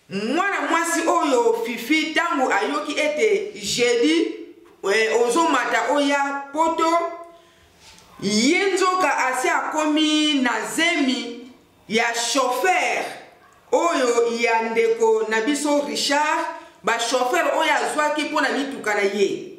Mwana mwasi oyo Fifi ntango ayoki ete jeudi eh, ozomata oya poto ye nzoka asi akomi na zemi ya chauffeur oyo ya ndeko na biso Richard ba chauffeur oyo azwaki mpo na mituka na ye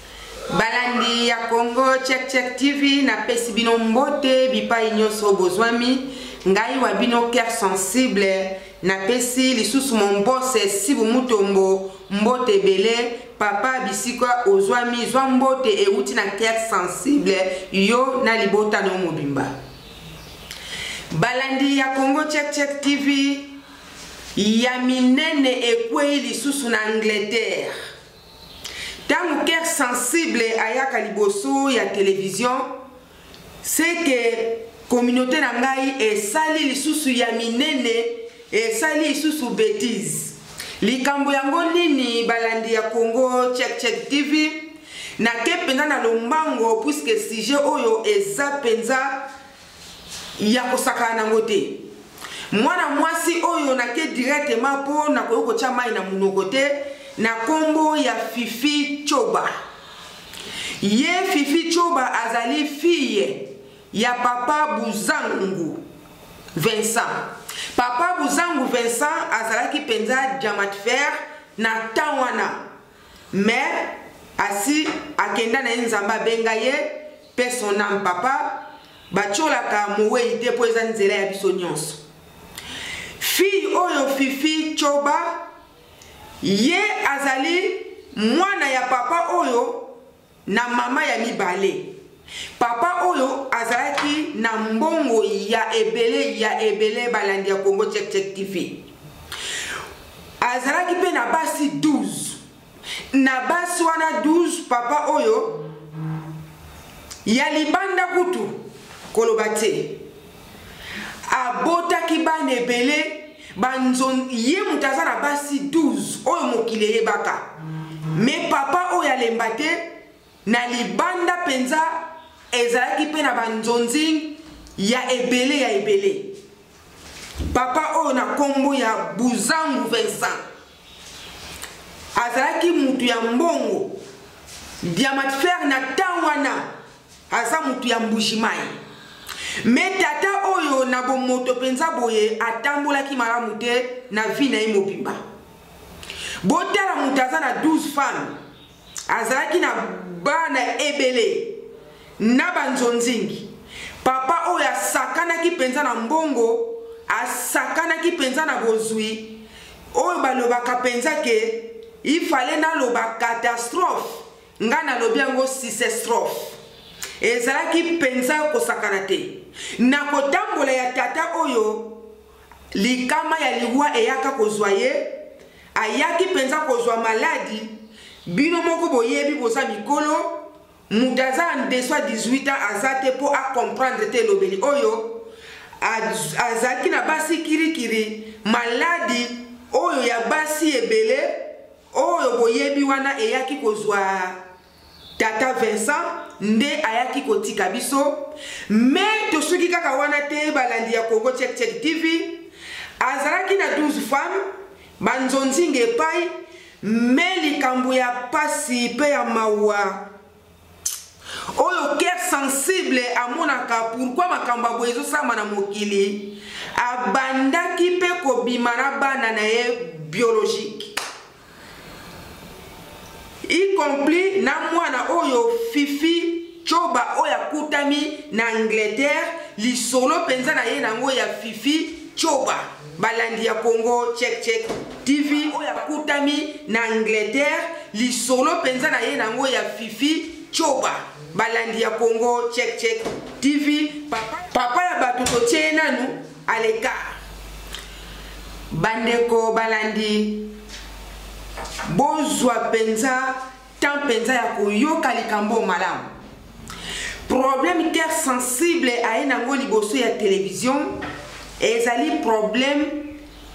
balandi ya congo check check tv napesi bino mbote bipai nyonso bozwami ngai wa bino cœur sensible napesi lisusu mombose sibu mutombo mbote ebele papa bisika ozwami zwa mbote euti na cœur sensible yo na libota no mobimba balandi ya congo check check tv ya minene ekwei lisusu na angleterre ntango cœur sensible ayaka liboso ya televizio seke communauté na ngai esali lisusu ya minene esali lisusu betise likambo yango nini balandi ya congo check check tv nake mpenza na lombango puiske sujet oyo eza mpenza ya kosakana nango te mwana mwasi oyo nake directement mpo nakoki kotya mai na monoko te na nkombo ya fifi coba ye fifi coba azali fille ya papa buzangu vincent papa buzangu vincent azalaki mpenza diamant fer na temps wana mais asi akenda na ye nzambe abenga ye pe son ame papa batiolaka mowei te mpo eza nzela ya biso nyonso fille oyo fifi coba ye azali mwana ya papa oyo na mama ya mibale papa oyo azalaki na mbongo ya ebele ya ebele balandi ya congo check check tv azalaki mpe na basi 12 na basi wana 12 papa oyo ya libanda kutu koloba te abotaki bana ebele banzon ye moto aza na basi 12 oyo mokili eyebaka me papa oyo alemba te na libanda mpenza ezalaki mpe na banzonzing ya ebele ya ebele papa oyo na nkombo ya buzangu vincent azalaki moto ya mbongo diamatfere na temps wana aza mutu ya mbujimayi me tata oyo na bomoto mpenza boye atambolaki malamu te na vi na ye mobimba botala moto aza na 12 femme azalaki na bana ebele na banzonzingi papa oyo asakanaki mpenza na mbongo asakanaki mpenza na bozwi oyo balobaka mpenza ke ifale naloba katastrofe ngai nalobi yango sisestrophe ezalaki mpenza kosakana te na kotambola ya tata oyo likama ya liwa eyaka kozwa ye ayaki mpenza kozwa maladi bino moko boyebi boza mikolo moto aza en deso ya 18 ans aza te mpo acomprendre te elobeli oyo azalaki na basi kirikiri maladi oyo ya basi ebele Oyo boyebi wana eyaki kozwa tata Vincent nde ayaki kotika biso me tosuki kaka wana te balandi ya congo check check tv azalaki na 12 femme banzonzinga epai me likambo ya pasi mpe ya mawa oyo cœur sensible amonaka pourkui makambo ya boye ezosama na mokili abandaki mpe kobima na bana na ye biologique y compris na mwana oyo fifi coba oyo akutami na angleterre lisolo mpenza na ye na yango ya fifi coba balandi ya congo check check tv oyo akutami na angleterre lisolo mpenza na ye na yango ya fifi coba balandi ya congo check check tv papa, papa ya bato totie ye nanu aleka bandeko balandi bozwa mpenza temps mpenza ya koyoka likambo oyo malamu problème cœur sensible aye nango liboso ya televizio ezali problème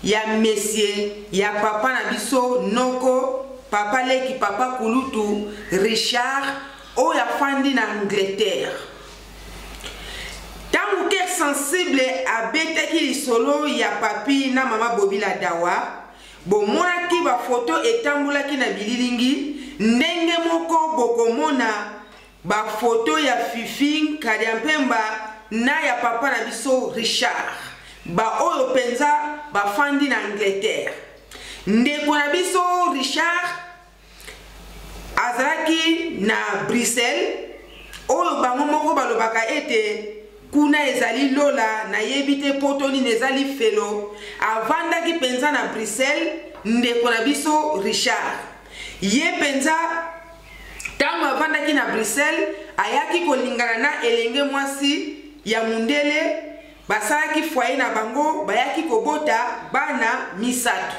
ya mesie ya papa na biso noko papa leki papa kulutu richard oyo afandi na angleterre ntango cœur sensible abetaki lisolo ya papi na mama bobi ladawa Bomonaki bafoto etambolaki na bililingi? Ndenge moko bokomona bafoto ya Fifi Nkadiampemba na ya papa na biso Richard, baoyo mpenza bafandi na Angleterre. Ndeko na biso Richard azalaki na bruxelles oyo bango moko balobaka ete kuna ezali lola nayebi te poto nini eza lifelo avandaki mpenza na bruxelles ndeko na biso richard ye mpenza ntango avandaki na bruxelles ayaki kolingana na elenge mwasi ya mondele basalaki fwaye na bango bayaki kobota bana misato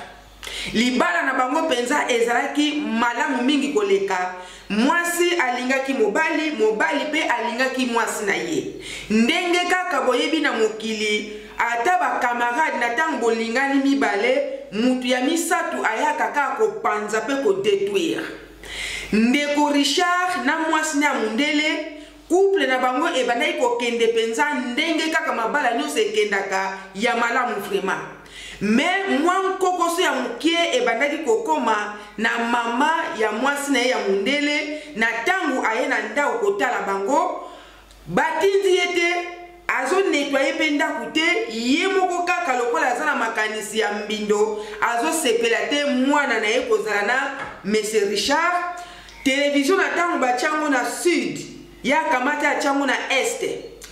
Libala na bango mpenza ezalaki malamu mingi koleka. Mwasi alingaki mobali, mobali mpe alingaki mwasi na ye. Ndenge kaka boyebi na mokili, ata bakamarade na ntango bolingani mibale, moto ya misato ayaka kaka kopanza mpe kodetruire. Ndeko Richard na mwasi na ya mondele Couple na bango ebandaki kokende mpenza ndenge kaka mabala nyonso ekendaka ya malamu vraiment. Mais mwa nkokoso ya moke ebandaki kokoma na mama ya mwasi na ye ya mondele na ntango aye na ndako kotala bango batindi ye te azonetwaye mpe ndako te ye moko kaka lokola aza na makanisi ya mbindo azosepela te mwana na ye kozala na mese richard Television na tango batia yango na sud, ye akamati atia yango na est.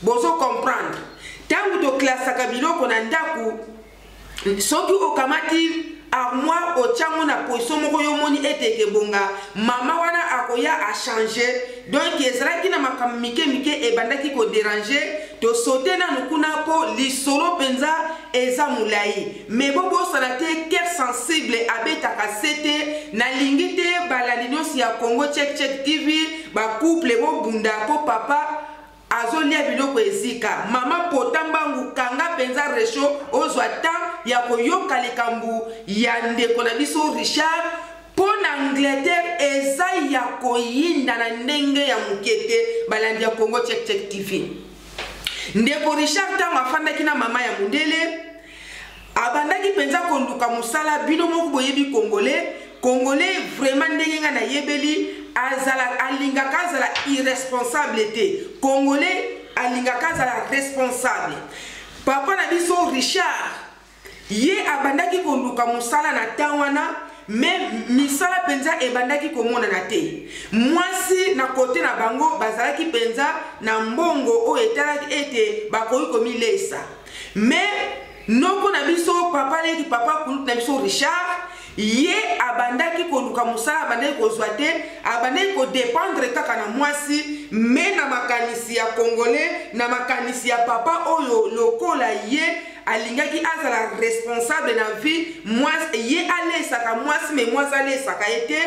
Bozo comprendre? Tango to classaka biloko na ndaku, soki okamati armoire otia yango na position moko yo omoni ete ekebonga, mama wana akoya a changer. Donc ezalaki na makambo mike mike ebandaki ko deranger, to sauter nanu kuna po lisolo penza eza mulayi. Mais bo bosana te cœur sensible abetaka sete nalingi te balandi nyonso ya Congo check check TV ba couple bo bunda po papa azolia biloko ezika mama pota mbangu kanga mpenza resho ozwa temps ya koyoka likambo ya ndeko na biso richard mpo na angleterre eza ya koyinda na ndenge ya moke te balandi ya congo check check tv ndeko richard ntango afandaki na mama ya mondele abandaki mpenza koluka mosala bino moko boyebi congolais congolais vraiment ndenge ngai nayebeli azala alingaka azala irresponsable te congolais alingaka azala responsable papa na biso richard ye abandaki koluka mosala na ntango wana me misala mpenza ebandaki komonana te mwasi na kote na bango bazalaki mpenza na mbongo oyo etalaki ete bakoki komileisa mais noko na biso papa leki papa kulutu na biso richard ye abandaki koluka mosala abandaki kozwa te abandaki kodependre kaka na mwasi me na makanisi ya congolais na makanisi ya papa oyo lokola ye alingaki azala responsable na vie mwasi ye alesaka mwasi me mwasi alesaka ye te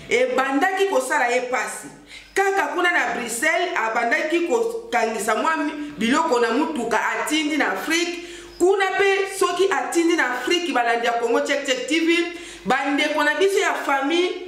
ebandaki kosala ye mpasi kaka kuna na bruxelles abandaki kokangisa mwa biloko na motuka atindi na afrike kuna mpe soki atindi na afrike balandi ya congo checkcheck tv bandeko na biso ya famille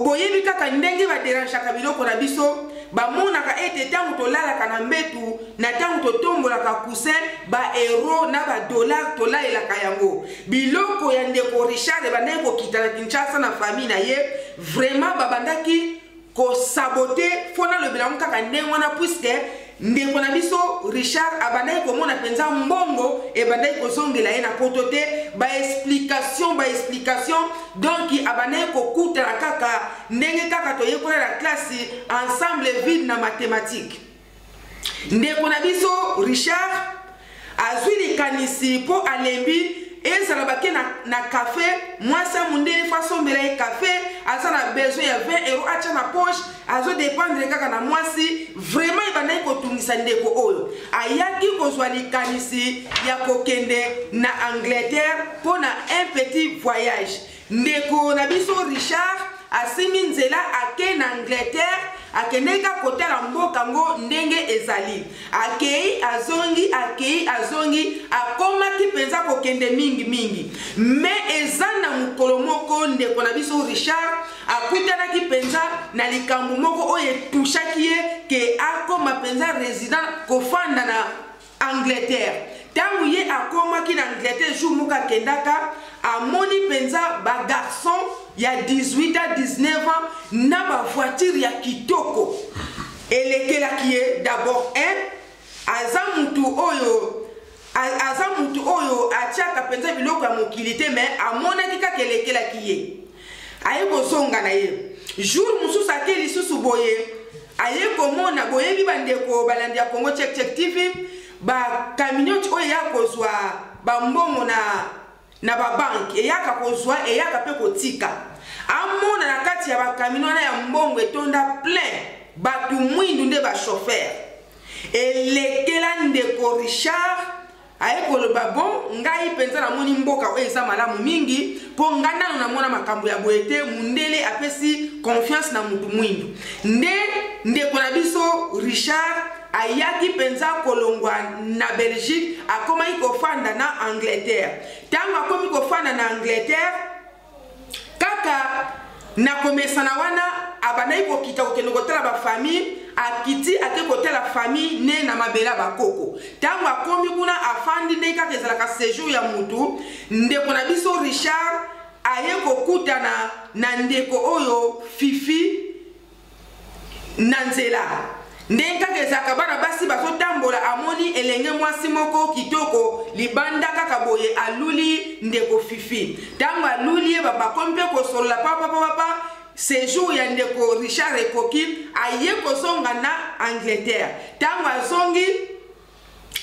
boyebi kaka ndenge baderangeaka biloko na biso bamonaka ete ntango tolalaka na mbetu na ntango totombolaka kusin baeuro na badollar tolalelaka yango biloko ya ndeko richard ebandaki kokita na kinshasa na famille na ye vraiment babandaki kosabote fo nalobela yango kaka ndenge wana puiske ndeko na biso richard abandaki komona mpenza mbongo ebandaki kozongela ye na poto te baexplication baexplication donk abandaki kokutana kaka ndenge kaka toyekola na klasi ensemble vide na mathematike ndeko na biso richard azwi likanisi mpo alembi ezala bake na, na kafe mwasi amundele fo asombela ye kafe aza na besoin ya 20 euro atya na poche azodependre kaka na mwasi vraimen ebandaki kotungisa ndeko oyo ayaki kozwa likanisi ya kokende na angleterre mpo na un petit voyage Ndeko na biso Richard asimbi nzela ake na Angleterre akendeki akotala mboka ngo ndenge ezali akei azongi akei azongi akomaki mpenza kokende mingi mingi me eza na mokolo moko ndeko na biso richard akutanaki mpenza na likambo moko oyo etushaki ye ke akoma mpenza resident kofanda na Angleterre. Tango ye akomaki na Angleterre jour moko akendaka amoni penza ba garçon ya 18 ans 19 ans na ba voiture ya kitoko elekelaki ye d'abord un aza mutu oyo aza mutu oyo atiaka penza biloko ya mokili te mais amonaki kaka elekelaki ye aye kozonga na ye jour mosusu ake lisusu boye aye komona boyebi bandeko balandi ya congo check check tv bacamionete oyo eya kozwa bambongo na na babanke eyaka kozwa eyaka mpe kotika amona na kati ya bakamino wana ya mbongo etonda plein bato mwindu nde bashofere elekela ndeko richard aye koloba bon ngai mpenza namoni mboka oyo eza malamu mingi mpo ngai nano namona makambo ya boye te mundele apesi confiance na motu mwindu nde ndeko na biso richard ayaki mpenza kolongwa na belgique akomaki kofanda na angleterre ntango akomi kofanda na angleterre kaka na komesana wana abandaki kokita kokende kotala bafamille akiti ake kotala famille ne na mabele ya bakoko ntango akomi kuna afandi ndenge kaka ezalaka sejour ya motu ndeko na biso richard aye kokutana na ndeko oyo fifi na nzela ndenge kaka ezalaka bana basi bazotambola amoni elenge mwasi moko kitoko libanda kaka boye aluli ndeko fifi ntango aluli ye babakomi mpe kosolola papapapapa sejour ya ndeko richard ekoki aye kozonga na angleterre ntango azongi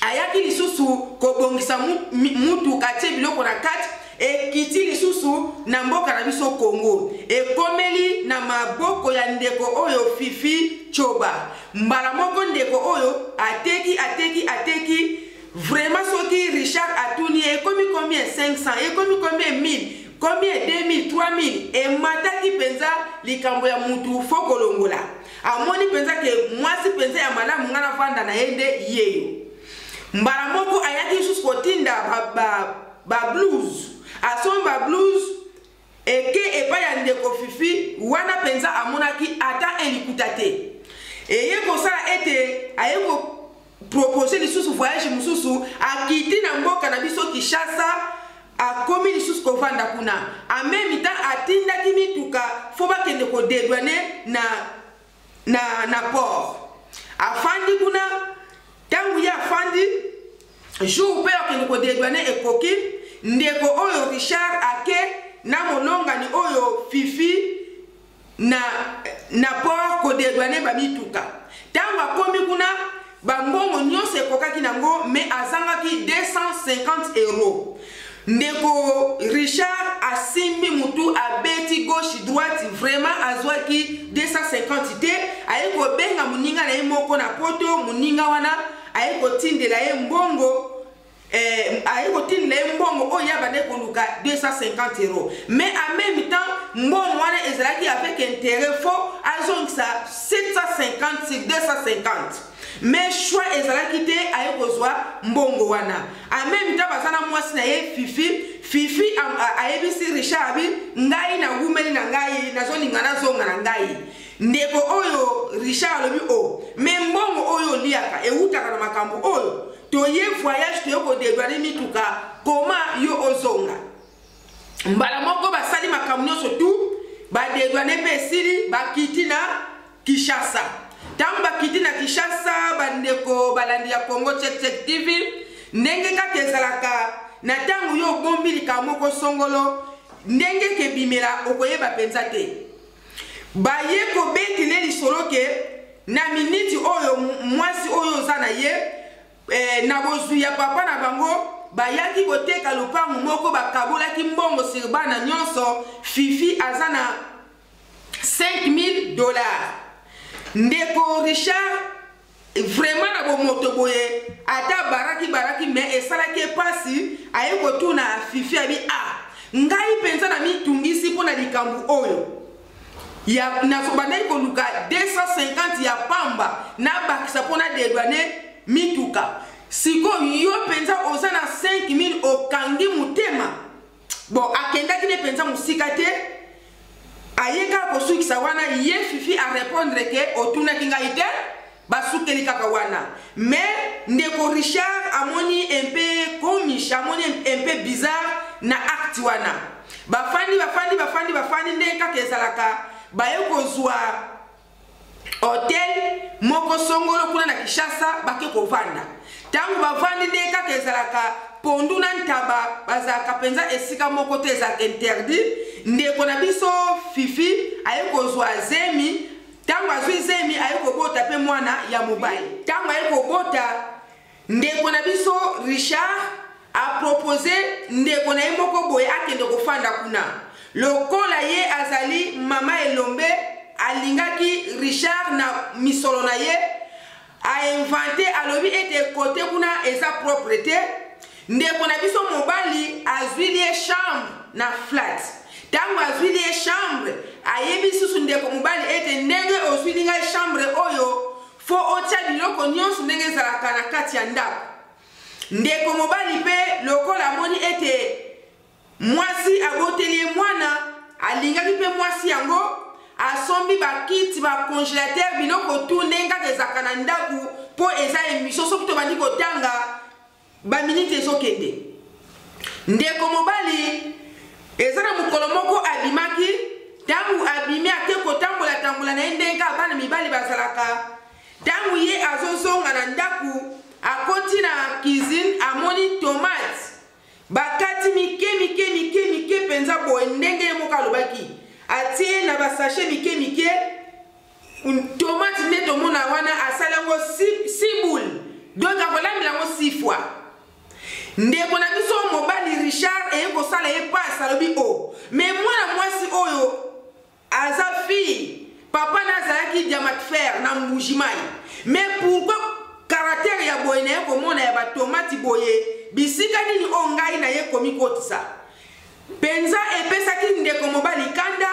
ayaki lisusu kobongisa mutuka atie biloko na kati ekiti lisusu na mboka na biso congo ekomeli na maboko ya ndeko oyo fifi coba mbala moko ndeko oyo ateki ateki ateki vraiment soki richard atuni ye ekomi combien 500 ekomi combien 1000 combien 2000 3000 emataki mpenza likambo ya mutu fo kolongola amoni mpenza ke mwasi mpenza ya malamu ngai nafanda na ye nde yeyo mbala moko ayaki lisusu kotinda bablouse asomba blouse eke epai ya ndeko fifi wana mpenza amonaki ata elikuta te eye kosala ete aye propose lisusu voyage mosusu akiti na mboka na biso kinshasa akomi lisusu kovanda kuna en meme temps atindaki mituka fo bakende kodedwane na, na, na port afandi kuna ntango ye afandi jour mpe akende kodedwane ekoki ndeko oyo richard ake na molongani oyo fifi na, na port kodedwane bamituka ntango akomi kuna bambongo nyonso ekokaki nango me azangaki 250 euro ndeko richard asimbi motu abeti gauche droite vraiment azwaki 250 te aye kobenga moninga na ye moko na poto moninga wana aye kotindela ye mbongo eh, aye kotindela ye mbongo oyo ya bande koluka 250 euro mais en même temps mbongo wana ezalaki avec intérêt fo azongisa 750 sur 250 mais choix ezalaki te aye kozwa mbongo wana en même temps baza na mwasi na ye fifi fifi ayebisi richard abi ngai nawumeli na ngai nazolinga nazonga na ngai ndeko oyo richard alobi o oh, me mbongo oyo oliaka ewutaka na makambo oyo toye voyage toye kodedwane mituka koma yo ozonga mbala moko basali makambo nyonso tu badedwane mpe esili bakiti na kinshasa ntango bakiti na kinshasa bandeko balandi ya congo checkcheck tv ndenge kaka ezalaka na ntango yo obombi likambo moko songolo ndenge kebimela okoyeba mpenza te Baye kobeti ne lisolo ke na miniti oyo mwasi oyo oza na ye eh, na bozwi ya papa na bango bayaki koteka lopango moko bakabolaki mbongo sur bana nyonso fifi aza na 5000 dollars ndeko richard vraiment na bomoto boye ata baraki baraki me esalaki epasi aye kotuna fifi abi a ah, ngai mpenza na mitungisi mpo na likambo oyo nazobandaki koluka 250 ya pamba nabakisa mpo na dedwane mituka sikoyo yo mpenza oza na 5000 okangi motema bon akendaki ne mpenza mosika te aye kaka kosukisa wana ye fifi arépondre ke otunaki ngai te basukeli kaka wana mais ndeko richard amoni mpe komish amoni mpe bizarre na acte wana bafandi bafandi bafandi bafandi ndenge kaka ezalaka baye kozwa hotel moko songolo kuna na kinshasa bake kovanda ntango bavandi nde kaka ezalaka pondu na ntaba bazalaka mpenza esika moko te ezalaka interdit ndeko na biso fifi aye kozwa zemi ntango azwi zemi aye kobota mpe mwana ya mobali ntango aye kobota Ndeko na biso Richard a propose ndeko na ye moko boye akende kofanda kuna. Lokola ye azali mama elombe, alingaki Richard na misolo na ye a inventer alobi ete kote kuna eza propre te. Ndeko na biso mobali azwi ye chambre na flat. Tango azwi ye chambre, ayebi susu ndeko mobali ete ndenge ozwili ngai chambre oyo fo otya biloko nyonso ndenge ezalaka na kati ya ndako. Ndeko mobali mpe lokola amoni ete mwasi aboteli ye mwana, alingaki mpe mwasi yango asombi bakiti bacongelatere biloko tu ndenge kaka ezalaka na ndako mpo eza emisio soki tobandi kotanga Ba minutes ezo kende. Ndeko mobali eza na mokolo moko abimaki tangu abimi ake kotambola tambola na ye ndenge bana mibali bazalaka tangu ye azozonga na ndako akoti na cuisine amoni tomate bakati mike mike mike mike mpenza boye ndenge ye moko alobaki atie na basashe mike mike tomate nde tomona wana asali yango siboule donc akolambela yango sifwa ndeko na biso mobali richard eye kosala ye pasi alobi o oh, me mwana mwasi oyo aza fille papa na azalaki diamat fer na mbujimai me pourkui karatere ya boye naye komona ya batomati boye bisika nini oyo ngai naye komikotisa mpenza epesaki ndeko mobali kanda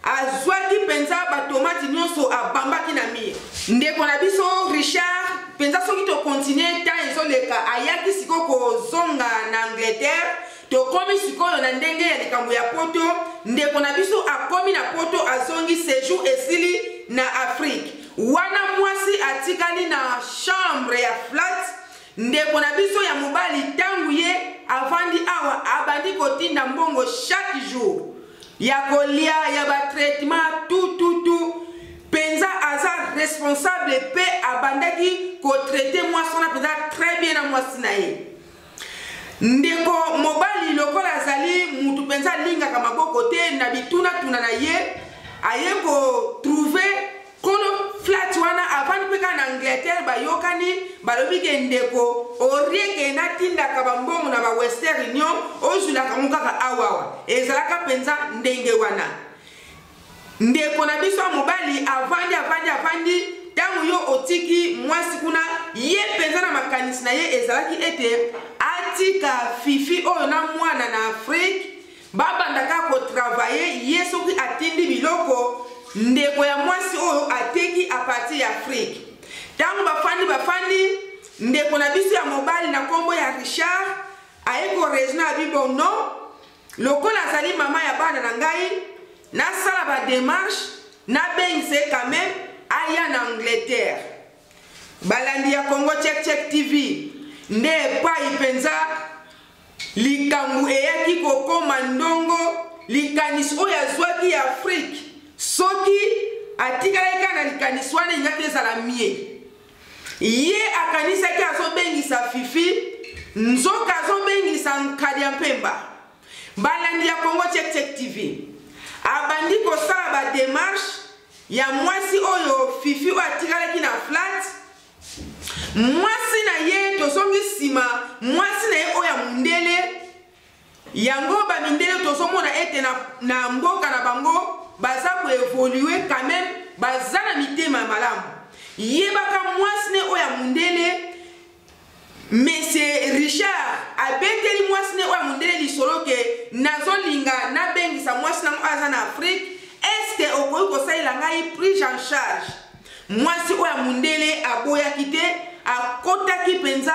Azwaki penza ba tomate nionso abambaki na mire. Ndeko na biso Richard penza soki to continuer temps ezo leka ayaki siko kozonga na Angleterre tokomi sikoyo na ndenge ya likambo ya poto ndeko na biso akomi na poto azongi sejour esili na afrique wana mwasi atikali na chambre ya flat Ndeko na biso ya mobali ntango ye avandi awa abandi kotinda mbongo chaque jour ya kolia ya batraitement tututu mpenza aza responsable mpe abandaki kotraite mwasi wana mpenza très bien na mwasi na ye ndeko mobali lokola azali mutu mpenza alingaka maboko te na bitunatuna na ye aye kotrouve kolo flat wana avandi mpe kaka na angleterre bayokani balobi ke ndeko orieke natindaka bambongo na ba western union ozwilaka yango kaka awawa ezalaka mpenza ndenge wana ndeko na biso ya mobali avandi avandi avandi ntango yo otiki mwasi kuna ye mpenza na makanisi na ye ezalaki ete atika fifi oyo na mwana na afrike Babanda kaka ko travailler ye soki atindi biloko ndeko ya mwasi oyo ateki a partir ya Afrique. Tango bafandi bafandi ndeko na biso ya mobali na kombo ya Richard aye ko raisonner abi bon non lokola azali mama ya bana na ngai nasala ba démarche nabengisa ye quand même aya na Angleterre. Balandi ya Congo Check Check TV nde epai mpenza Likambo eyaki kokoma ndongo, likanisi oyo azwaki ya Afrique, soki atikalaki kaka na likanisi wana elingaki ezala mie. Ye akanisaki azobengisa Fifi, nzoka azobengisa Nkadi ya Mpemba. Balandi ya Congo Check Check TV abandi kosala ba demarche ya mwasi oyo Fifi oyo atikalaki na flat mwasi na ye tozongi nsima mwasi na ye oyo ya mondele yango bamindele tozomona ete na, na mboka na bango baza koevolue quand même baza na mitema malamu yebaka mwasi ne oyo ya mondele Mese Richard abeteli mwasi ne oyo ya mondele lisolo ke nazolinga nabengisa mwasi nango aza na Afrique eske okoki kosalela ngai prise en charge mwasi oyo ya mondele aboyaki te akotaki mpenza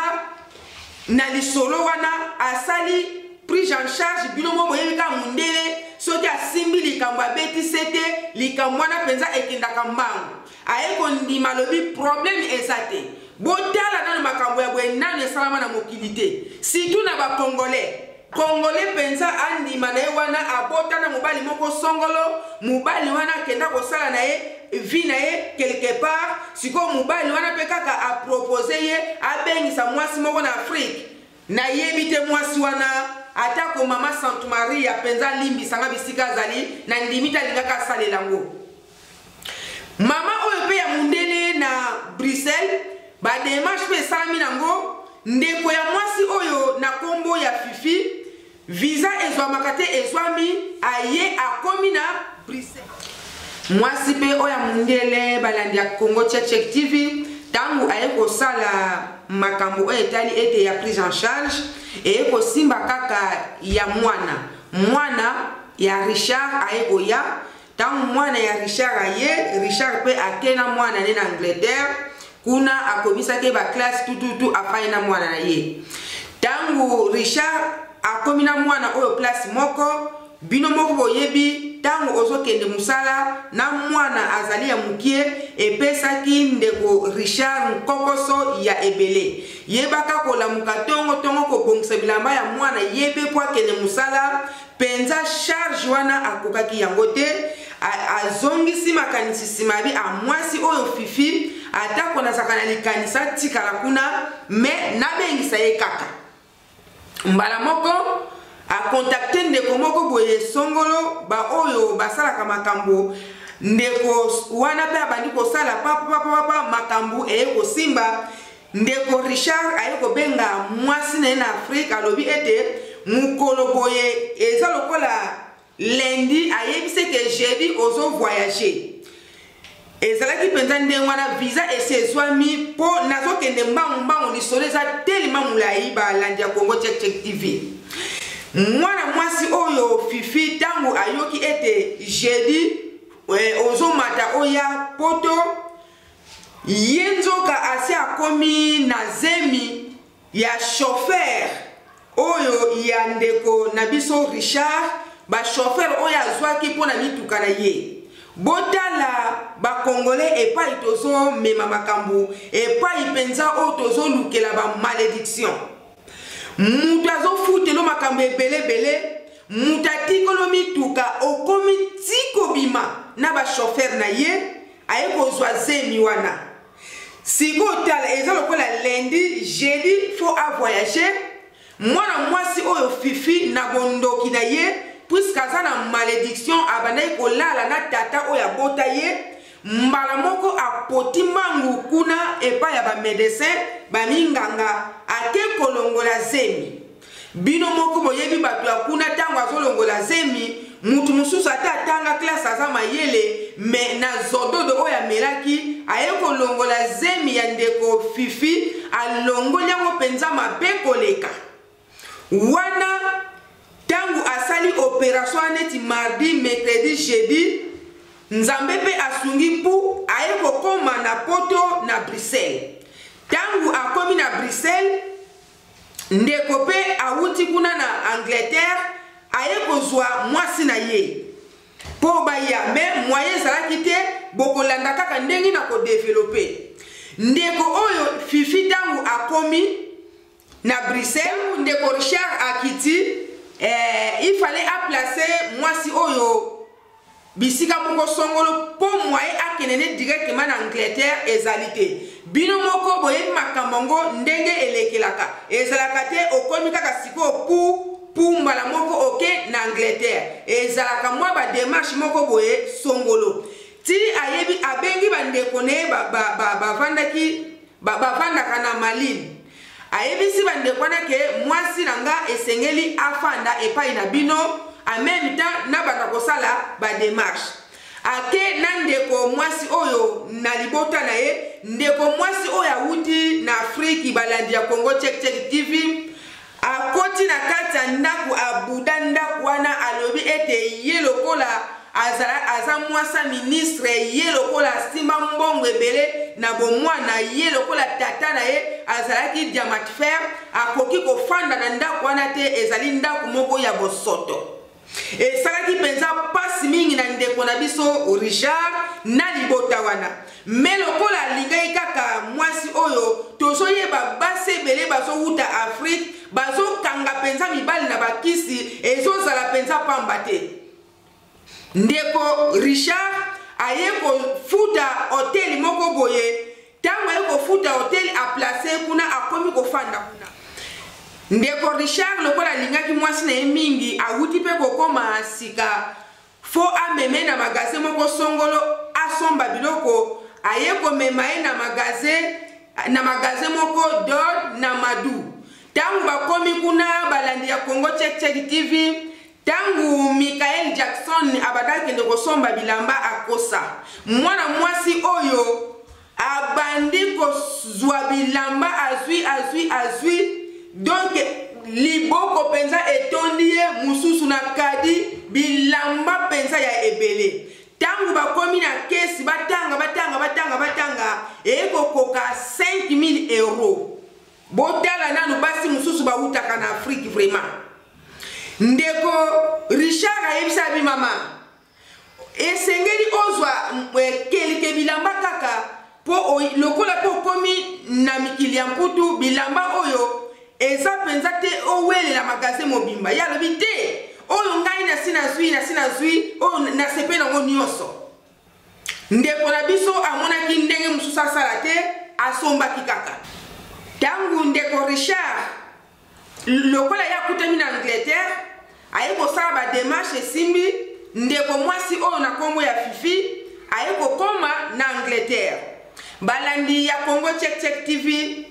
na lisolo wana asali prise en charge bino moko boyebi kaka mondele soki asimbi likambo abeti sete likambo wana mpenza ekendaka mbango aye kondima alobi probleme eza te botala nano makambo ya boye nano esalama na mokili te situ na bacongolais congolais mpenza andima na ye wana abota na mobali moko songolo mobali wana akenda kosala na ye vi na ye quelque part sikoyo mobali wana mpe kaka apropose ye abengisa mwasi moko na afrike nayebi te mwasi wana atako mama santu maria mpenza alimbisanga bisika azali nandimi te alingaka asalela yango Mama oyo pe ya mundele na Bruxelles ba demarche pe esalami nango ndeko ya mwasi oyo na kombo ya Fifi visa ezwamaka te ezwami aye akomi na Bruxelles. Mwasi pe oyo ya mundele balandi ya Congo Check Check TV ntango aye kosala makambo oyo etali ete ya prise en charge eye kosimba kaka ya mwana mwana ya richard aye koya ntango mwana ya richard aye richard mpe ake na mwana ne na angleterre kuna akomisaki baklasse tututu afai na mwana na ye ntango richard akomi na mwana oyo klase moko bino moko boyebi ntango ozokende mosala na mwana azali ya mokie epesaki ndeko richard nkokoso ya ebele yebaka kolamuka ntongotongo kobongisa bilamba ya mwana ye mpe mpo akende mosala penza charge wana akokaki yango te azongisi makanisi nsima yabi a mwasi oyo fifi atako nazalaka na likanisi atikala kuna me nabengisa ye kaka mbala moko akontakte ndeko moko boye songolo baoyo basalaka makambo ndeko wana mpe abandi kosala papapapapa makambo eye kosimba Ndeko Richard aye kobenga mwasi na ye na Afrique alobi ete mokolo boye eza lokola lundi ayebisi ete jeudi ozo voyager ezalaki mpenza ndenge wana visa esi ezwami mpo nazokende mbangu mbangu lisolo eza telema molai balandi ya congo check check tv mwana mwasi oyo fifi ntango ayoki ete jeudi eh, ozomata oya poto Ye nzoka asi akomi na zemi ya chauffeur oyo ya ndeko na biso Richard, ba chauffeur oyo azwaki mpo na mituka na ye. Botala ba congolais epai tozomema makambo, epai mpenza oyo tozolukela ba malediction. Moto azofutelo makambo ebele ebele, moto atikolo mituka okomi ti kobima na ba chauffeur na ye, aye kozwa zemi wana sikoyo tala eza lokola lundi jeudi fo avoyage mwana mwasi oyo fifi na bondoki na ye puiske aza na malediction abandaki kolala na tata oyo abota ye mbala moko apoti mbangu kuna epai ya bamedecin baminganga ake kolongola zemi Bino moko boyebi bato ya kuna tango azolongola zemi mutu mosusu ata atanga classe aza mayele me na zododo oyo amelaki aye kolongola zemi ya ndeko fifi alongoli yango mpenza mabe koleka wana ntango asali operation ya neti mardi mercredi jeudi nzambe mpe asungi mpu aye kokoma na poto na bruxelles ntango akomi na bruxelles ndeko mpe awuti kuna na angleterre aye kozwa mwasi na ye mpo baya me moyen ezalaki te bokolanda kaka ndenge na kodevelope ndeko oyo fifi ntango akomi na bruxelles ndeko richard akiti eh, ifale aplace mwasi oyo bisika moko songolo mpo mwaye akende ne directement na angleterre ezali te bino moko boyebi makambo yango ndenge elekelaka ezalaka te okomi kaka sikoyo pu pu mbala moko oke na angleterre ezalaka mwa bademarshe moko boye songolo ti ayebi abengi bandeko na ye bavandaki ba, ba, ba, bavandaka na malili Ayebisi bandeko wana ke mwasi na nga esengeli afanda epai na bino en meme temps nabanda kosala ba demarche ake na ndeko mwasi oyo na libota na ye ndeko mwasi oyo awuti na afriki balandi ya congo check check tv akoti na kati ya ndako abuda ndako wana alobi ete ye lokola aza, aza mwasa ministre ye lokola asimba mbongo ebele na bomwana ye lokola tata na ye azalaki diamatfer akoki kofanda na ndako wana te ezali ndako moko ya bosoto esalaki mpenza mpasi mingi na ndeko na biso richard na libota wana me lokola alingaki kaka mwasi oyo tozoyeba basi ebele bazowuta afrike bazokanga mpenza mibali na bakisi ezozala mpenza mpamba te ndeko richard aye kofuta hoteli moko boye ntango aye kofuta hoteli aplace kuna akomi kofanda kuna ndeko richard lokola alingaki mwasi na ye mingi awuti mpe kokoma sika fo ameme na magaze moko songolo asomba biloko aye komema ye na magaze na magaze moko dod na madu ntango bakomi kuna balandi ya congo check check tv Tango Michael Jackson abandaki kende kosomba bilamba akosa, mwana mwasi oyo abandi kozwa bilamba azwi azwi azwi donc liboko mpenza etondi ye mosusu na kadi bilamba mpenza ya ebele ntango bakomi na kesi batanga batanga batanga batanga eye kokoka 5000 euro botala nanu basi mosusu bawutaka na afrike vraiment ndeko richard ayebisa bi mama esengeli ozwa eh, kelke bilamba kaka mpo lokola mpe okomi na mikili ya mputu bilamba oyo eza mpenza te owelela magaze mobimba ye alobi te oyo ngai nasi nazwi nasi nazwi oyo nasepe nango nyonso Ndeko na biso amonaki ndenge mosusu asala te, asombaki kaka. Ntango ndeko Richard, lokola ye akutami na Angleterre, aye kosala bademarshe esimbi, ndeko mwasi oyo na nkombo ya Fifi aye kokoma na Angleterre. Balandi ya Congo Check Check TV,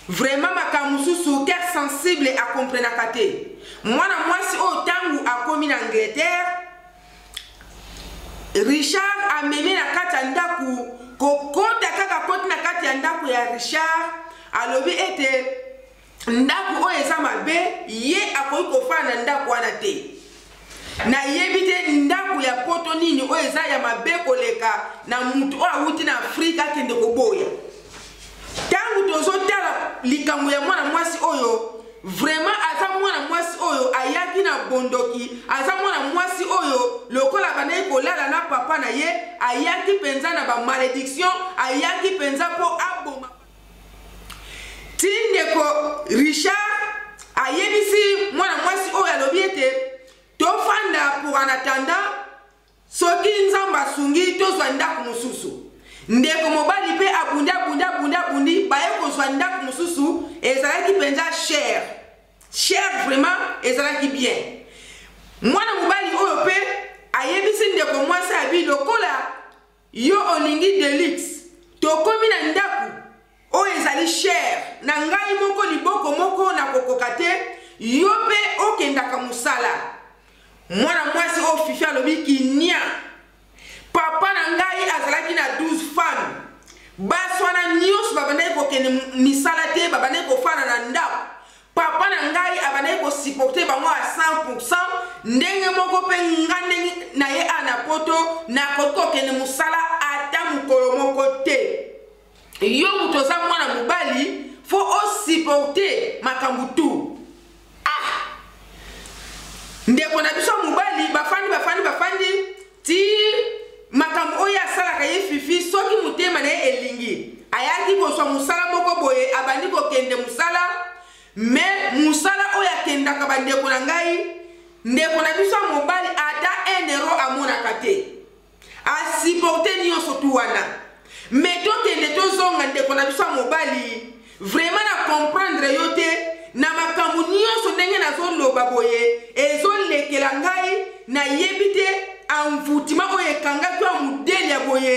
vraiment makambo mosusu cœur sensible akomprenaka te. Mwana mwasi oyo ntango akomi na Angleterre, richard amemi na kati ya ndako kokota kaka koti na kati ya ndako ya richard alobi ete ndako oyo eza mabe ye akoki kofanda na ndako wana te nayebi te ndako ya poto nini oyo eza ya mabe koleka na moto oyo awuti na afrika akende koboya ntango tozotala likambo ya mwana mwasi oyo vraiment aza mwana mwasi oyo ayaki na bondoki aza mwana mwasi oyo lokola abandaki kolala na papa na ye ayaki mpenza na bamalediction ayaki mpenza mpo aboma ti ndeko richard ayebisi mwana mwasi oyo alobi ete tofanda pour en attendant Soki Nzambe asungi, tozwa ndako mosusu. Ndeko mobali mpe abundi, abundi, abundi, abundi, baye kozwa ndako mosusu, ezalaki mpenza cher. Cher vraiment, ezalaki bien. Mwana mobali oyo mpe ayebisi ndeko mwasi abi lokola Yo olingi deluxe? Tokomi na ndaku oyo ezali cher na ngai moko liboko moko na kokoka te yo pe okendaka musala mwana mwasi oyo fifi alobi kinia papa na ngai azalaki na 12 femme basi wana nyonso babandaki kokende misala te babandaki kofana na ndako Papa na ngai abandaki ko supporter bango à 100%, ndenge moko pe nga ndenge na ye a na poto na koki kokende musala ata mukolo moko te. Yo mutu oza mwana mobali fo o supporter makambo tout. ndeko na biso mobali bafandi bafandi bafandi Ti makambo oyo asalaka ye Fifi soki motema na ye elingi ayaki kozwa mosala moko boye abandi kokende mosala me mosala oyo akendaka bandeko na ngai ndeko na biso ya mobali ata 1 euro amonaka te asiporte nyonso tu wana me tokende tozonga ndeko na biso ya mobali Vraiment na comprendre yo te na makambo nyonso ndenge nazoloba boye ezolekela ngai nayebi te envoutima oyo ekangaki ya modele ya boye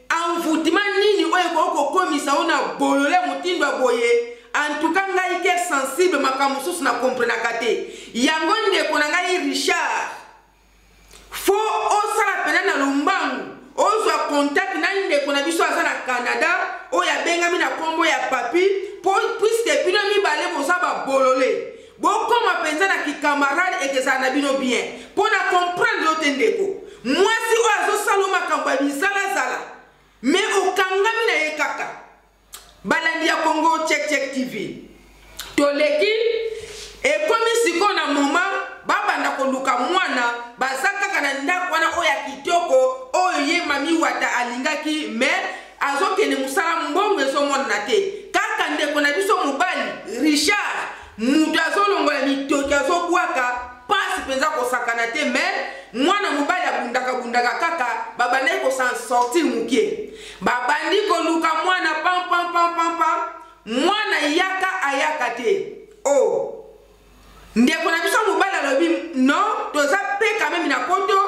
envoutima nini oyo ekoki kokomisa yo na bolole motindo ya boye antuka ngai ke sensible makambo mosusu na komprenaka te yango ndeko na ngai richard fo osala mpena na lombangu ozwa contact na ndeko na biso aza na canada oyo abengami na nkombo ya papi mpo puiske bino mibale boza babolole bokoma mpenza na kikamarade ekezala na bino bien mpo na comprendre yo te ndeko mwasi oyo azosala makambo ya bizalazala me okangami na ye kaka balandi ya congo check check tv toleki ekomi sikoyo na moma babanda koluka mwana baza kaka na ndako wana oyo ya kitoko oyo ye mami wata alingaki me azokende mosala mbongo ezomonana te kaka ndeko na biso mobali richard moto azolongola mitoki azobwaka mpasi mpenza kosakana te me mwana mobali abundakabundaka kaka babandaki kosansortir moke Babandi koluka mwana pam pam pam pam pam mwana yaka ayaka te o oh. ndeko na biso mobali alobi non toza mpe kamemi na poto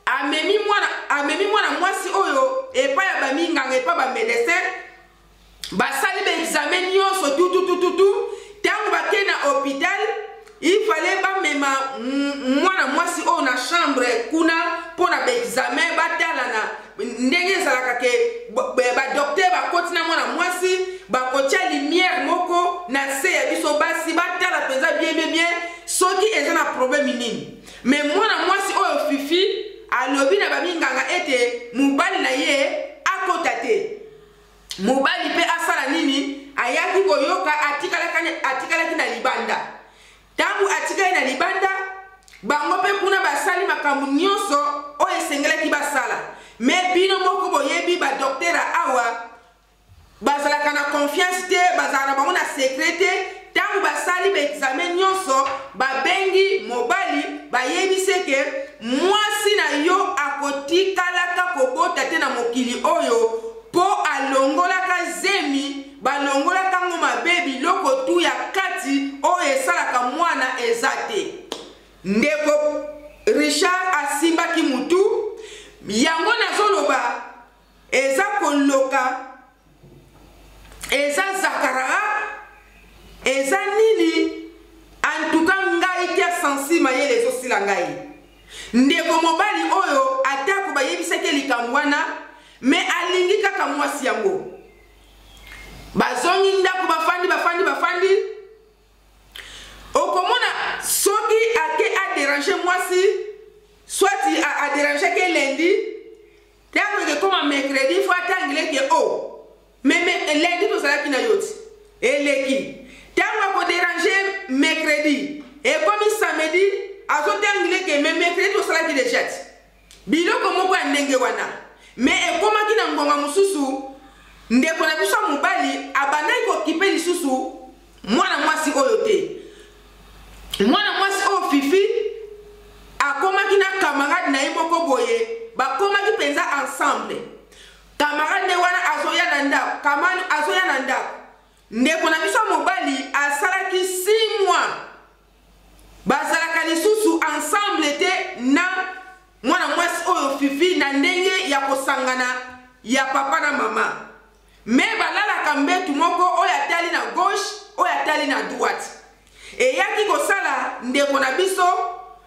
amemi mwana amemi mwana mwasi oyo epai ya baminganga epai bamedecin basali baexame nyonso tututututu ntango bakei na hôpital Il fallait bamema mwana mwasi oyo na chambre kuna mpo na baexamen batalana ndenge ezalaka ke badoktere bakoti na mwana mwasi bakotya limiere moko na se ya biso basi batala mpenza bien bien bien soki eza na probleme nini me mwana mwasi oyo fifi alobi na baminganga ete mobali na ye akota te Mobali mpe asala nini? Ayaki koyoka, atikalaki, atikalaki na libanda. Ntango atikali na libanda, bango mpe kuna basali makambo nyonso oyo esengelaki basala. Me bino moko boyebi badoktera awa bazalaka na konfiance te, bazalaka na bango na sekre te. Ntango basali baekzame nyonso, babengi mobali, bayebi seke mwasi na yo akotikalaka kobota te na mokili oyo Po alongolaka zemi, balongolaka ngo mabe biloko tout ya kati oyo esalaka mwana eza te. Ndeko Richard asimbaki mutu, yango nazoloba eza koloka eza zakaraa eza nini antuka ngai kia sensi mayele ezosila ngai Ndeko mobali oyo, atako bayebisaki ye likambo wana, me alingi kaka mwasi yango. Bazongi ndako, bafandi, bafandi, bafandi. Okomona soki ake aderange mwasi, swati aderange ke lendi, ntango ekekoma mercredi fo atangile ke o oh, Mais mais lundi tozalaki na yo ti. Eleki. Tango ako déranger mercredi. Ekomi samedi azotangile ke mais mercredi tosalaki déjà ti. Biloko moko ya ndenge wana. Mais ekomaki na ngonga mosusu ndeko na biso ya mobali abandaki kokipe lisusu mwana mwasi oyo te mwana mwasi oyo fifi akomaki na camarade na ye moko boye bakomaki mpenza ensemble Tamara nde wana azoya na ndako. Kamani azoya na ndako. Ndeko na biso ya mobali asalaki 6 mois. Bazalaka lisusu ensemble te na mwana mwasi oyo Fifi na ndenge ya kosangana ya papa na mama. Mais balalaka mbetu moko oyo atali na gauche, oyo atali na droite. Eyaki kosala ndeko na biso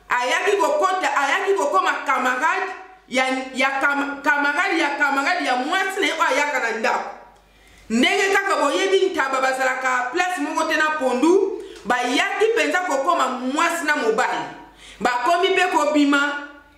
ayaki kokota ayaki kokoma camarade ya, ya kam, camarade ya camarade ya mwasi na ye oyo ayaka na ndako ndenge kaka boyebi ntaba bazalaka place moko te na pondu bayaki mpenza kokoma mwasi na mobali bakomi mpe kobima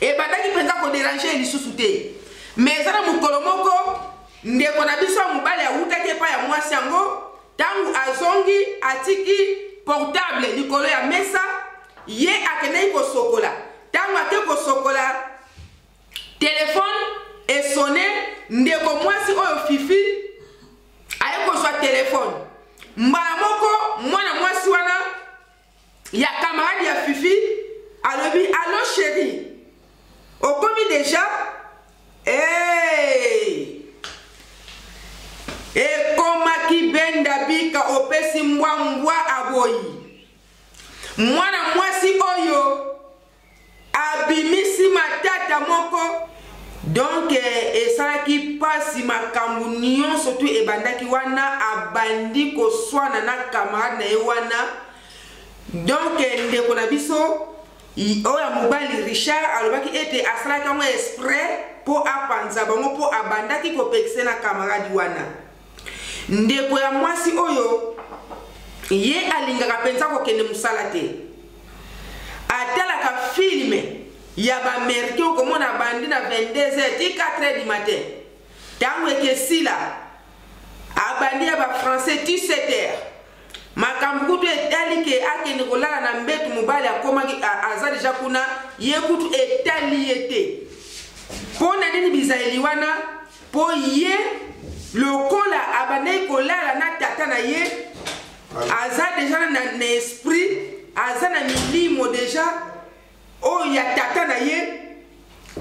ebandaki mpenza koderange ye lisusu te me eza na mokolo moko ndeko na biso ya mobali awutaki epai ya mwasi yango ntango azongi atiki portable likolo ya mesa ye akendaki kosokola ntango ake kosokola telefone esone ndeko mwasi oyo fifi aye kozwa telefone mbala moko mwana mwasi wana ya camarade ya fifi alobi allo chéri okomi déjà hey! ekomaki benda bika opesi mbwa mbwa aboyi mwana mwasi oyo abimisi matata moko donc eh, esalaki mpasi makambo nyonso tu ebandaki wana abandi koswana na camarade na ye wana donc eh, ndeko na biso oyo ya mobali richard alobaki ete asalaki yango esprit mpo apanza bango mpo abandaki kopekisa na camarade wana Ndeko ya mwasi oyo ye alingaka mpenza kokende mosala te atalaka filme ya baamerikain okomona bandi na 22 heures ti 4 heures du matin ntango ekesila abandi ya bafrançais ti 7 heures makambo kutu etali ke akende kolala na mbetu mobali akomaki aza deja kuna ye kutu etali ye te mpo na nini bizaleli wana mpo ye lokola abandaki kolala na tata na ye aza deja na, na esprit aza na milimo deja oyo ya tata na ye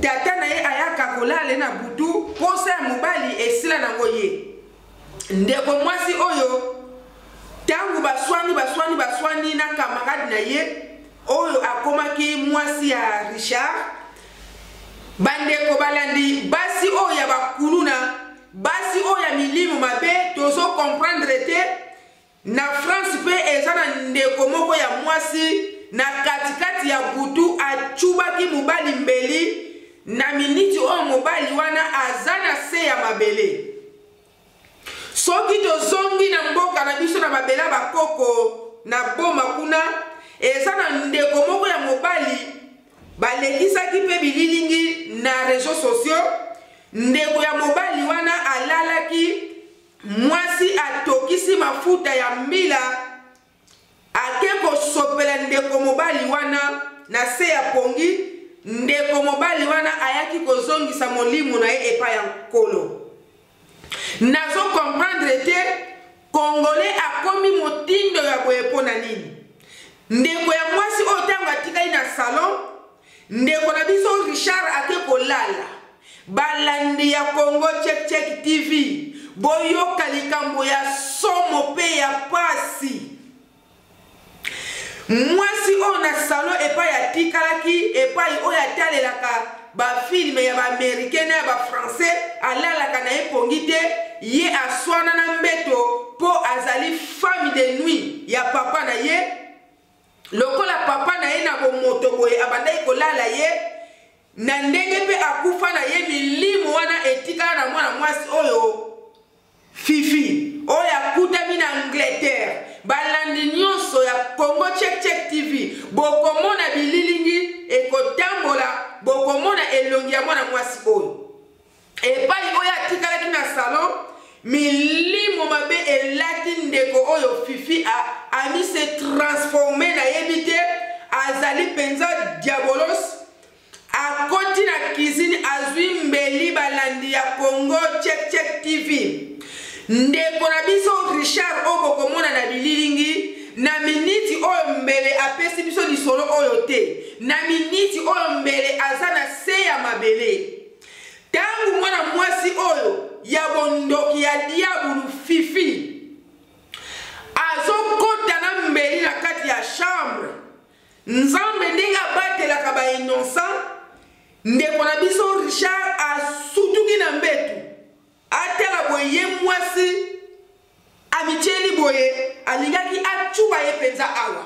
tata na ye ayaka kolala ye na butu mposa ya mobali esila nango ye ndeko mwasi oyo ntango baswani baswani baswani na kamarade na ye oyo akomaki mwasi ya richard Bandeko balandi basi oyo ya bakuluna, basi oyo ya milimo mabe, tozo comprendre te. Na France pe eza na ndeko moko ya mwasi na katikati ya butu achubaki mobali mbeli na miniti oyo mobali wana aza na se ya mabele. Soki tozongi na mboka na biso na babela bakoko na boma kuna, eza na ndeko moko ya mobali balekisaki mpe bililingi na reseau sociaux. Ndeko ya mobali wana alalaki mwasi atokisi mafuta ya mbila Ake kosopela ndeko mobali wana na se ya pongi, ndeko mobali wana ayaki kozongisa molimo na ye epai ya Nkolo. Nazo comprendre te Congolais akomi motindo ya boye mpo na nini? Ndeko ya mwasi oyo ntango atikali na salon Ndeko na biso Richard ake kolala. Balandi ya Congo Check Check TV, boyoka likambo ya somo pe ya pasi. Mwasi oyo na salon epai atikalaki epai oyo atalelaka bafilme ya baamerikain na ya bafrançais alalaka na ye pongi te ye aswana na mbeto mpo azali femme de nuit ya papa na ye Lokola papa na ye na bomoto boye abandaki kolala ye na ndenge mpe akufa na ye milimo wana etikala na mwana mwasi oyo fifi oyo akutami na angleterre balandi nyonso ya congo checkcheck tv bokomona bililingi ekotambola bokomona elongi ya mwana mwasi oyo epai oyo atikalaki na salon milimo mabe elati ndeko oyo fifi ami se transforme nayebi te azali mpenza diabolos akoti na kizini azwi mbeli balandi ya congo checkcheck tv ndeko na biso richard oyo bokomona na bililingi na miniti oyo mbele apesi biso lisolo oyo te na miniti oyo mbele aza na se ya mabele Tangu mwana mwasi oyo ya bondoki ya diabulu fifi azokota na mbeli na kati ya chambre nzambe ndenge abatelaka ba innocent ndeko na biso richard asutuki na mbetu atala boye ye mwasi amityeli boye alingaki acuba ye mpenza awa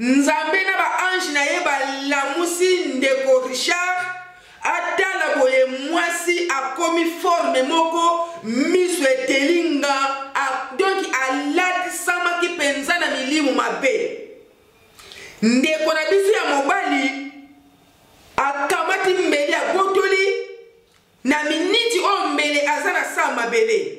Nzambe na ba ange na ye balamusi ndeko Richard atala boye mwasi akomi forme moko miso eteli nga donc alatisamaki mpenza na milimu mabe ndeko na biso ya mobali akamati mbeli abotoli na miniti oyo mbele aza na saa mabele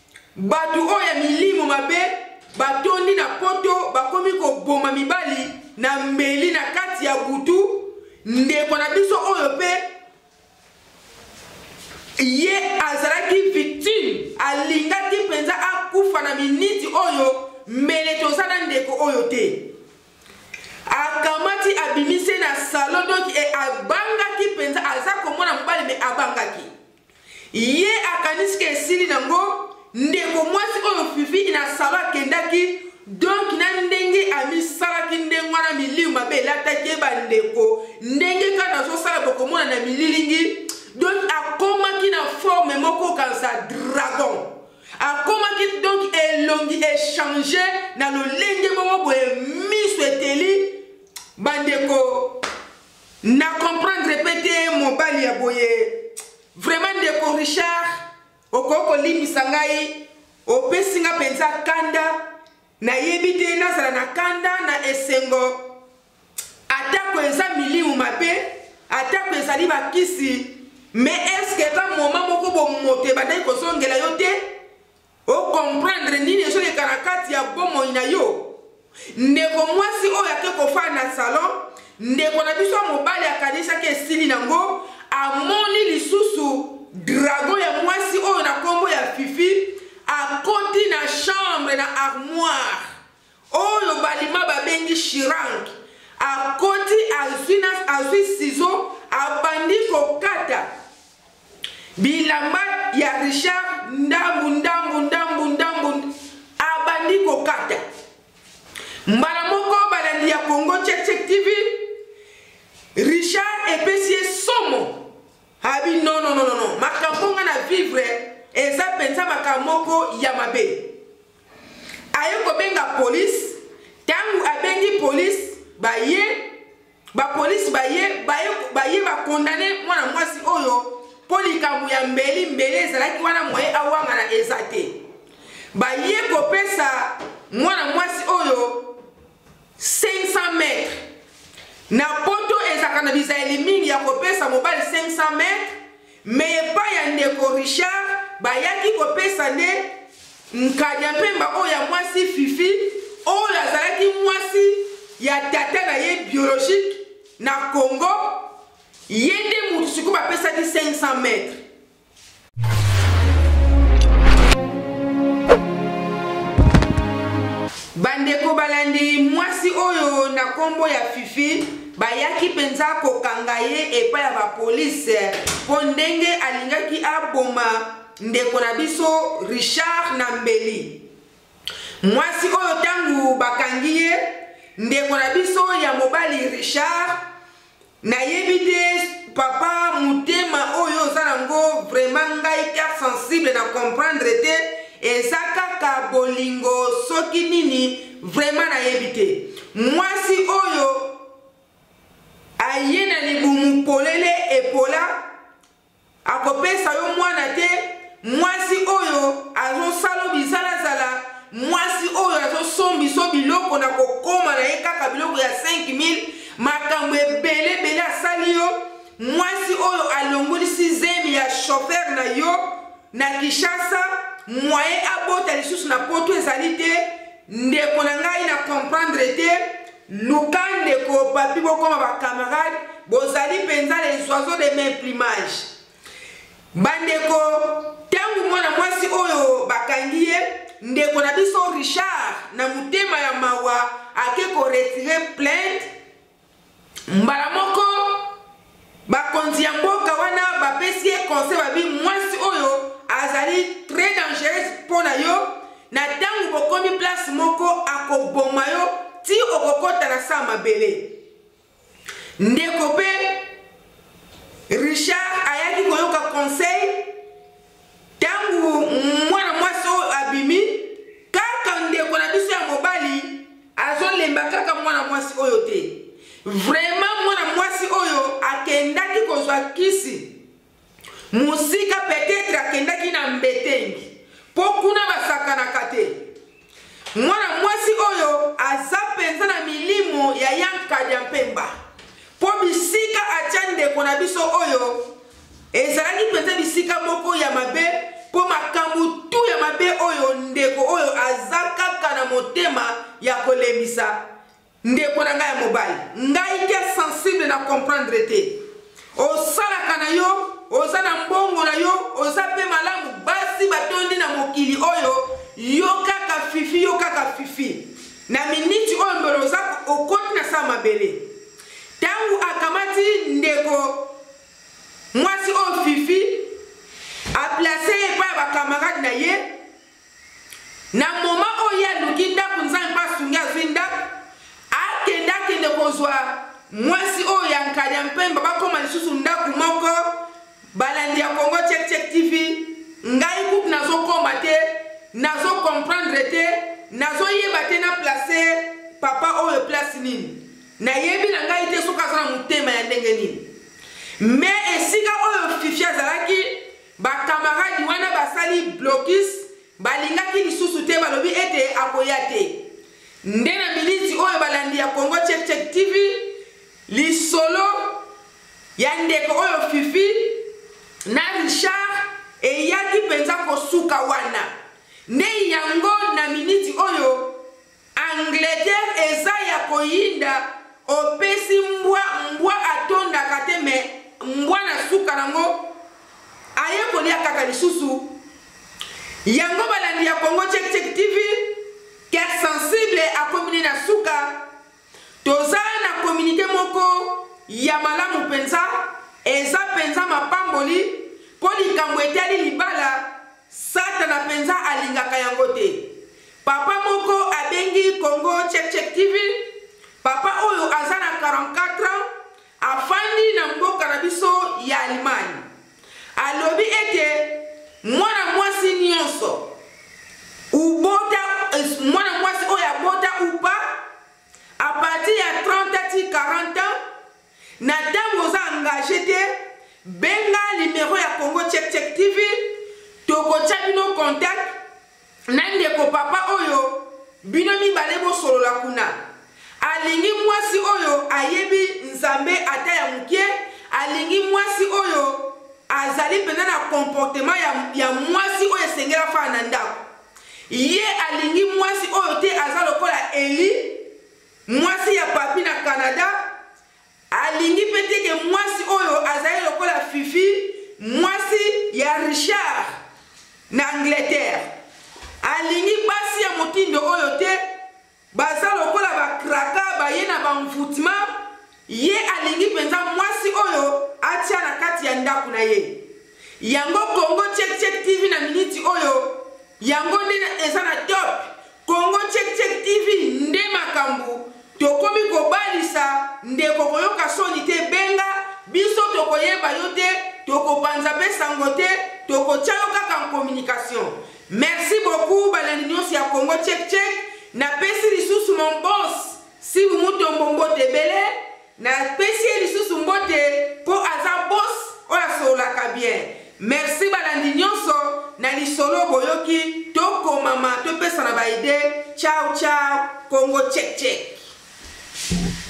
Bato oyo ya milimo mabe batondi na poto, bakomi koboma mibali na mbeli na kati ya butu. Ndeko na biso oyo mpe ye azalaki victime, alingaki mpenza akufa na miniti oyo mbele toza na ndeko oyo te akamati abimisi na salon donc e, abangaki mpenza aza komona mobali me abangaki Ye akanisi ke esili na ngo ndeko mwasi oyo fifi na salon akendaki donc na ndenge amisalaki ndenge wana miliu mabe elataki ye bandeko ndenge kaka nazosala bokomona na mililingi donc akomaki na forme moko kanisa dragon akomaki donc elongi echange na lolenge moko boye miso eteli bandeko Na comprendre pe te mobali ya boye. Vraiment ndeko Richard okoki kolimbisa ngai opesi nga mpenza kanda nayebi te nazala na kanda na esengo atako eza milimu mabe atako ezali bakisi me eske eza moma moko bomoto ebandaki kozongela yo te okomprendre nini ezoleka na kati ya bomoi na yo ndeko mwasi oyo ake kofaa na salon ndeko na biso ya mobali akanisaki esili nango amoni lisusu drago ya mwasi oyo na nkombo ya fifi akoti na chambre na armoire Oyo balima babengi Shirang akoti azwi na azwi sizo abandi kokata bilamba ya Richard ndambu ndambu ndambu ndambu abandi kokata mbala moko balandi ya Congo Check Check TV Richard epesi ye somo abi non non non non makambo nga na vivre eza mpenza makambo moko ya mabe aye kobenga polise ntango abengi polise baye bapolisi baye baye bakondane mwana mwasi oyo mpo likambo ya mbeli mbeli ezalaki wana moye awangana eza te baye kopesa mwana mwasi oyo 500 mètres na poto ezalaka na bizaleli mingi ya kopesa mobali 500 mètres me epai ya ndeko richard bayaki kopesa nde nkanya mpemba oyo ya mwasi fifi oyo azalaki mwasi ya tata na ye biologique na congo ye nde motu sikoyo bapesaki 500 mètres bandeko balandi mwasi oyo na nkombo ya fifi bayaki mpenza kokanga ye epai ya bapolise mpo ndenge alingaki aboma ndeko na biso richard na mbeli mwasi oyo ntango bakangi ye ndeko na biso ya mobali richard nayebi te papa motema oyo oza nango vraiment ngai carte sensible na comprendre te eza kaka bolingo soki nini vraiment nayebi te mwasi oyo aye na libumu polele epola akopesa yo mwana te mwasi oyo azosala bizalazala mwasi oyo azosombiso biloko na kokoma na ye kaka biloko ya 5000 makambo ebele ebele asali yo mwasi oyo alongolisi zemi ya shofer na yo na kinshasa mwaye abota lisusu na poto ezali te ndeko na ngai na komprendre te Luka ndeko papi bokoma ba camarade bozali mpenza les oiseaux de main plumage bandeko ntango mwana mwasi oyo bakangi ye ndeko na biso richard na motema ya mawa ake koretire plainte mbala moko Bakonzi ya mboka wana bapesi ye conseil babi mwasi oyo azali très dangereuse mpo na yo na ntango bokomi place moko akoboma yo ti okokota na saa mabele ndeko mpe richard ayaki koyoka conseil Tango mwana mwasi oyo abimi, kaka ndeko na biso ya mobali azolemba kaka mwana mwasi oyo te. Vraiment mwana mwasi oyo akendaki kozwa kisi mosika, peut-être akendaki na mbetengi mpo kuna basakanaka te. Mwana mwasi oyo aza mpenza na milimo ya Yankadi ya Mpemba, mpo bisika atya ndeko na biso oyo ezalaki mpenza bisika moko ya mabe mpo makambo tu ya mabe oyo ndeko oyo aza kaka na motema ya kolembisa Ndeko na ngai ya mobali, ngai ke sensible na comprendre te. Osalaka na yo, oza na mbongo na yo, oza pe malamu, basi batondi na mokili oyo, yo kaka fifi, yo kaka fifi. Na miniti oyo mbele oza okoti na saa mabele. Tango akamati ndeko mwasi oyo fifi, aplace ye epai ya bakamarade na ye, na moma oyo ye aluki ndako nzambe mpe asungi azwi ndako akende akende kozwa mwasi oyo ya nkanya mpemba bakoma lisusu ndako moko balandi ya congo checkcheck tv ngai kutu nazokoma te nazokomprendre te nazoyeba te na place papa oyo place nini nayebi na ngai te soki aza na motema ya ndenge nini me esika oyo fifi azalaki Bakamaradi wana basali blokis, balingaki lisusu te, balobi ete akoya te. Nde na miniti oyo balandi ya Congo Check Check TV, lisolo ya ndeko oyo Fifi na Richard eyaki mpenza kosuka wana. Nde yango na miniti oyo Angleterre eza ya koyinda opesi mbwa mbwa atondaka te me mbwa na suka nango aye kolia kaka lisusu yango balandi ya congo check check tv ker sensible akomi ne na suka toza na kominike moko ya malamu mpenza eza mpenza mapamboli mpo likambo etali libala Satana mpenza alingaka yango te. Papa moko abengi Congo Check Check TV. Papa oyo aza na 44 ans afandi na mboka na biso ya Allemagne. Alobi ete mwana mwasi nyonso ubota mwana mwasi oyo abota upa a partir ya 30 ti 40 ans Na tango oza engage te benga numero ya Congo Check Check TV tokotia bino contact na ndeko papa oyo bino mibale bosolola kuna alingi mwasi oyo ayebi nzambe ata ya moke alingi mwasi oyo azali mpenza na comportement ya, ya mwasi oyo esengeli afana na ndako ye alingi mwasi oyo te aza lokola eli Mwasi ya Papy na Canada alingi mpe te ke mwasi oyo azali lokola Fifi, mwasi ya Richard na Angleterre. Alingi basi ya motindo oyo te, baza lokola bakraka baye na banvutma Ye alingi mpenza mwasi oyo atya na kati ya ndako na ye. Yango Congo Check Check TV na miniti oyo, yango nde eza na top. Congo Check Check TV nde makambo. Tokomi kobalisa ndeko koyoka soni te benga biso tokoyeba yo te tokopanza mpe sango te tokotya yo kaka en communication merci beaucoup balandi nyonso ya congo check check napesi lisusu mon bos Sibu Mutombo mbote ebele. Na pesi ye lisusu mbote po aza boss oyo asololaka bien. Merci balandi nionso na lisolo boyoki tokomama topesana ba idee ciao ciao Congo check check.